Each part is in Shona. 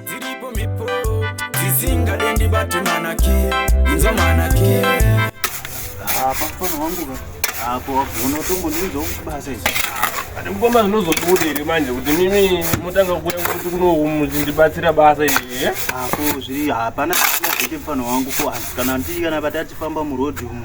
dziripo mhepo dzisingade ndibate manaki inzwa manaki pafana wangu apo wagona utombondiudza kubasa izvi Ati mukoma zvinozodibuda here manje kuti mimi motanga kuuya kuti kuno muchindibatsira basa iri eh? apo zviri hapana zvisina zvete mfana wangu ko hanzi kana ndii kana vati atifamba murodhi umu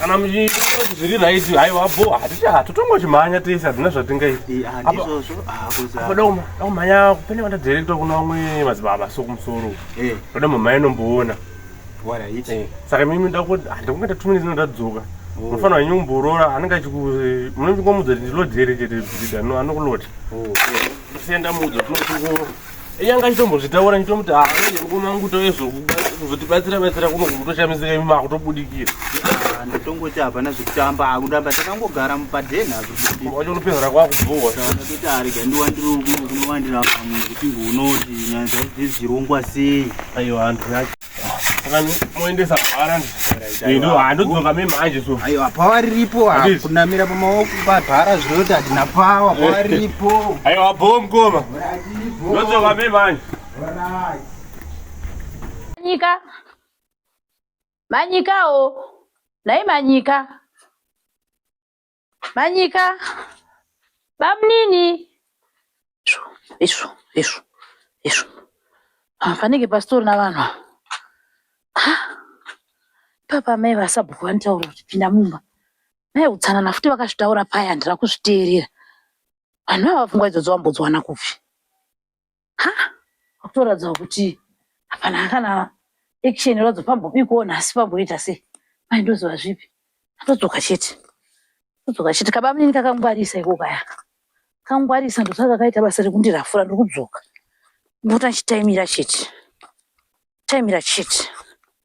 kana muchizviri right haiwa bo haticha totongochimhanya tese hatina zvatingaitakumhanya ah, pane vandadirekta kuna vamwe madzibaba so kumusoro eh. toda mumhanya inomboona eh, saka mimi ndakuti handikunge tatumini zino ndadzoka oh. munofanira wenyu kumborora anenge achimunochingomudza kuti ndilodhere chete bhidha anokulota oh. eh. sienda mudza tinotingo yanga achitombozvitaura nditomuti haa mukoma nguto yezvokuzotibatsira batsira kuno kutoshamisika imi makutobudikira ah, ndotongoti hapana zvekutamba akundamba takangogara mupaden hazvobudikachonopedzera kwakubhowa ndakati arega ndiwandirokunowandira pamwe kuti unoti nyaya dzaidzezirongwa sei aiwa handu yacho moendesa bhara ndodzoka me manje so aiwa pawa riripo kunamira pamaoko pabhara zvinoti hatina pawa pawa riripo aiwa bho mkoma ndodzoka me manje manyika manyikawo nhai manyika Manyika. Bamnini. Izvo, izvo, izvo, izvo. Ah, panenge pasitorina vanhu. Ha? Papa mai vasabhuku vanitaura kuti pinda mumba. Mai utsanana futi vakazvitaura paya handira kuzviteerera. Vanhu ava pfungwa idzodzo vambodziwana kupi? ha kutoratidza kuti hapana kana action inoratidza pambobikwawo nhasi pamboita sei mai ndoziva zvipi atodzoka chete atodzoka chete kabamunini kakangwarisa iko kaya kangwarisa ndosaka kakaita basa rekundirafura ndiri kudzoka ndikuti achitaimira chete taimira chete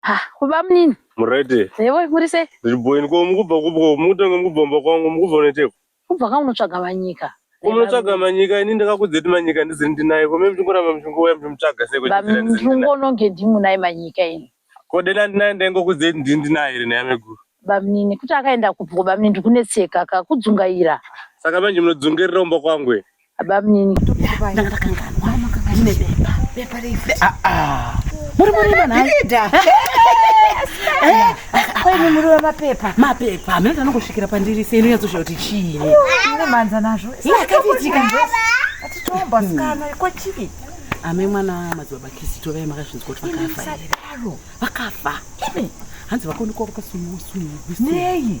Ha, kuba munini. Murete. Yewe, muri sei? Ndiri boyini ko mukubva kubva mukutanga mukubva mba kwangu mukubva unoiteko. Kubva kwangu unotsvaga manyika. Unotsvaga manyika ini ndakakudza kuti manyika ndiziri ndinaye ko mimi chingoramba mchingouya mchimtsvaga sei kuti ndiziri ndinaye. Ndingononge ndimunaye manyika ini. Ko dena ndinaye ndaingokudza kuti ndiri ndinaye here nhaya meguru. Bamunini kuti akaenda kupi ko bamunini ndikunetseka ka kudzungaira. Saka manje munodzungairira kumba kwangu here? Abamnini. Ndanga ndakanganwa. Ndine bepa. Bepa refu. Ah ah. Muri muri mana. Ndida. Eh, kwa ini muri wa mapepa. Mapepa. Mimi ndana kusvikira pandiri sei ino yatsosha kuti chii. Ndine manza nazvo. Ina kafitika. Atitomba skana kwa chii. Ame mwana madzibaba kisi tove makazvinzi kuti vakafa. Vakafa. Hanzi vakoni kwa vakasumuwa sumuwa. Nei?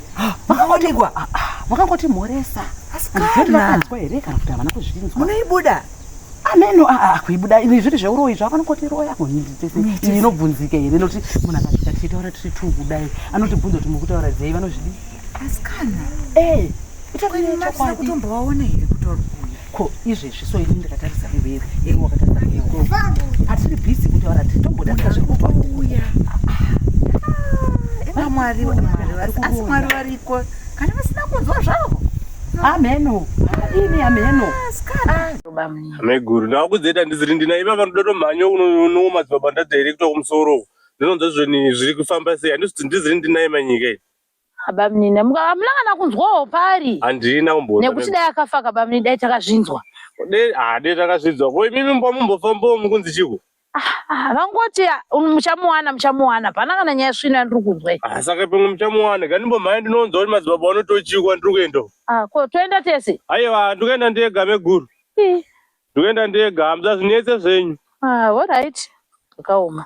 makaonekwa ah, ah, makangoti mhoresa asikanakanzwa here kana kuti havana kuzvinzwa munoibuda ameno ah, kuibuda ini zviri zveuroyi zvavo anongoti roya kuhindi tese ini inobvunzika here nokuti munhu akazvita tichitaura tiri two kudai anotibvunza kuti mukutaura dzei vanozvidii asikana eh, itakutombovaona here kutorwa ko izvezvi so ini ndikatarisa iwewe iwe wakatarisa iwewe hatiri busy kutaura titombodarika zvekupa kuuya ah, mwari asi mwari variko kana vasina kunzwa zvavo ameno ini ameno ah, ameguru ndakuzoita ndiziri ndina iva vanoda tomhanya unowo madzibaba ndadairekta kumusoro ndinonzwa zvoni zviri kufamba sei handisi kuti ndiziri ndinaye manyika iyi Abamunini muka hamuna kana kunzwawo pari handina kumboona nekuti dai akafa akabamunini dai takazvinzwa dai ah, takazvinzwa ko imimi mba mumbofambawo mukunzi chiko ah, vangoti ah, muchamuwana muchamuwana hapana kana nyaya svino yandiri kunzwa saka pamwe muchamuwana ga ndimbomhaya ndinonzwa kuti madzibaba vanotochiko andiri kuenda ko toenda tese aiwa ndikuenda ndega meguru ndikuenda ndega hamza zvinetse zvenyu olright zvakaoma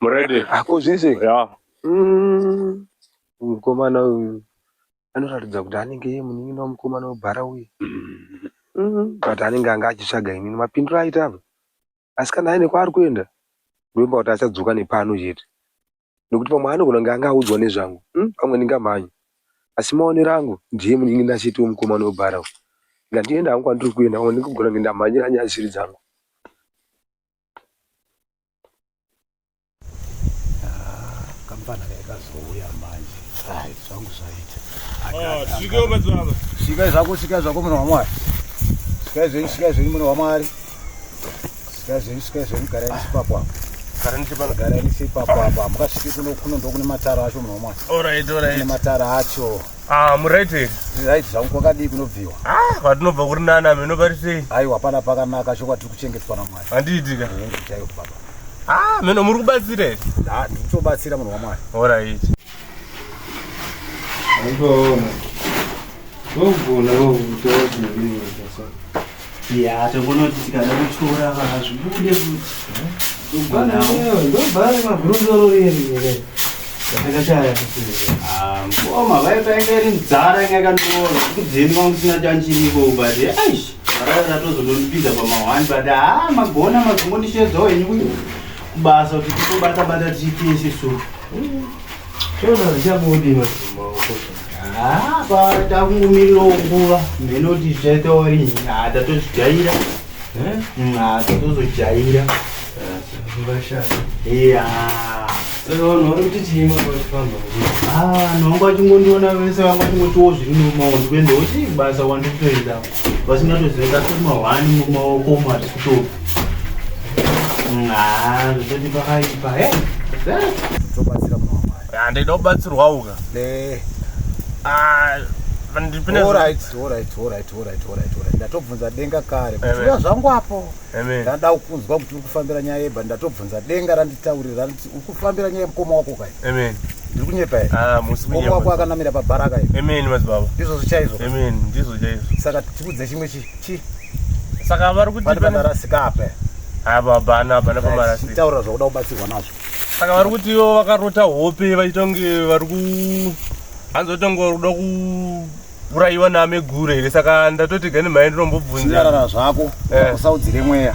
Murede. Ako zvese. Yeah. Mm. Mukomana uyu anoratidza kuti anenge iye munin'ina wemukomana webhara uye mm. but anenge anga achitsvaga inini mapindiro aita apa asi kana aine kwaari kuenda ndoimba kuti achadzoka nepano chete nekuti pamwe anogona kunge anga audzwa nezvangu mm, pamwe ndingamhanya asi maonero angu ndiye munin'ina chete wemukomana webhara uyu ngandienda hangu kwandiri kuenda pamwe ndikugona kunge ndamhanyira nyaya dzisiri dzangu kamfana kekazouya manje hayi zvangu zvaita sikai zvako sikai zvako munhu wamwari sikai zvenyu sikai zvenyu munhu wamwari sikai zvenyu sikai zvenyu garai nisipapo apo garai nisipapo apo hamukasviki kuno kuno ndokune matara acho munhu wamwari kune matara acho Ah, muright here? Right zvangu kwakadii kunobviwa? Ah, kwatinobva kuri nani ame nopari sei? Aiwa hapana pakanaka chokwadi tiri kuchengetwa naMwari. Handiitika. Hongu chaiwo baba. Ah, meno muri kubatsira here? Ah, ndiri kutobatsira munhu waMwari. Alright. Ndinoona. Ndogona kutaura kuti ndiri kubatsira. Yeah, togona kuti tikada kutyora vazvibude futi ndobhara mabhuruzoro riri ere ndakashaya mkoma ah, vaita inge iri mdzara inge yakandiona kudzeni kwangu sina chanchiriko but aish varara ratozodondipinza pamahwani but ha ah, magona mazongondisheedzawo henyu kubasa kuti titobata bata tiitese so Zvona zvichabude maoko. Ah, bata kumiro nguva. Menoti zvaita wari nyada tozvijaira. Eh? Nyada tozojaira. Vashaka. Yeah. Saka vanhu vari kuti chii makwachifamba? Ah, vanhu vangu vachingondiona vese vangu vachingotiwo zviri mumaoko. Kuenda kuti basa wandikutoenda. vasingatoziva tomahwani mumaoko umo hatisitopi zvatoti pakaipa handida kubatsirwawo ka ndatobvunza denga kare kutuya zvangu apo ndada kunzwa kuti uri kufambira nyaya yeba ndatobvunza denga randitaurira ukufambira nyaya mukoma wako kai amen ndiri kunyepa here ah, mukoma wako akanamira pabhara kai amen madzibaba ndizvo zvichaizvo amen ndizvo zvichaizvo saka tikudze chimwe chi saka vari kuti panarasika apa ababana ah, abana pamarasika taura zvakuda kubatsirwa nazvo saka vari kuti ivo vakarota hope vachitonge vari ku hanzi vatonge vari kuda ku uraiwa name gure here saka ndatoti gani mai ndinombobvunzarara zvako eh. usaudzire mweya